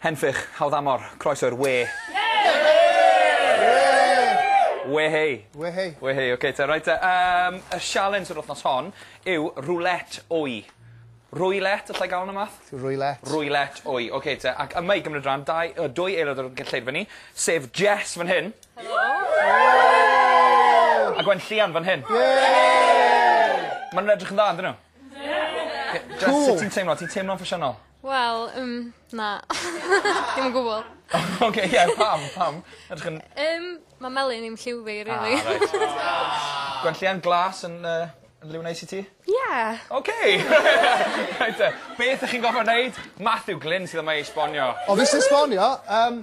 Henffych, hawdd amor, croeso i'r we. We hei. We hei. We hei, oce te, reit te. Um, y sialens yr wythnos hon yw roulette wy. Rwylet, allai gael yna math? Rwylet. Rwylet, wy, oce okay, te. Ac yma i gymryd rhan, dau, uh, dwy aelod o'r gynlleidfa ni, sef Jess fan hyn. Helo. A Gwen Llian fan hyn. Mae'n edrych yn dda, ydyn nhw? Jyst sut ti'n teimlo ti'n teimlo'n ffasiynol? Wel yym na. Dim o gwbwl. Oce ie pam pam? Edrych yn... Yym ma' melyn i'm lliw fi rili. Ah reit. Aww. Gwenllian glas yn yy yn liw neis i ti? Ie. Oce! Reit 'te. Beth 'ych chi'n gorffo neud? Matthew Glyn sydd yma i esbonio. O fi sy esbonio? Yym.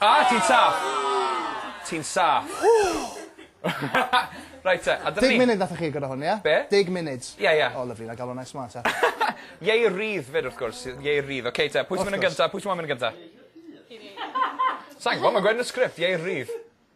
A! Ti'n saff! Ti'n saff. Reit te, a dyna ni. Deg munud nathoch chi agor o hwn ie? Be? Deg munud? Ie ie. O lyfli 'nai ga'l wnna i smart te. Iei rydd 'fyd wrth gwrs yy iei rydd oce te pwy sy myn' yn gynta pwy sy moyn myn' yn gynta? Fi. Sai'n gwbo ma'n gweud yn y sgript iei rydd.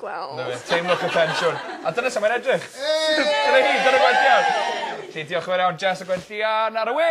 Gweld. 'Na fe. Teimlwch y tensiwn. A dyna su' mae'n edrych. Hei! Dyna hi, dyna gwenllian. Felly diolch yn fawr iawn Jess a gwenllian ar y we!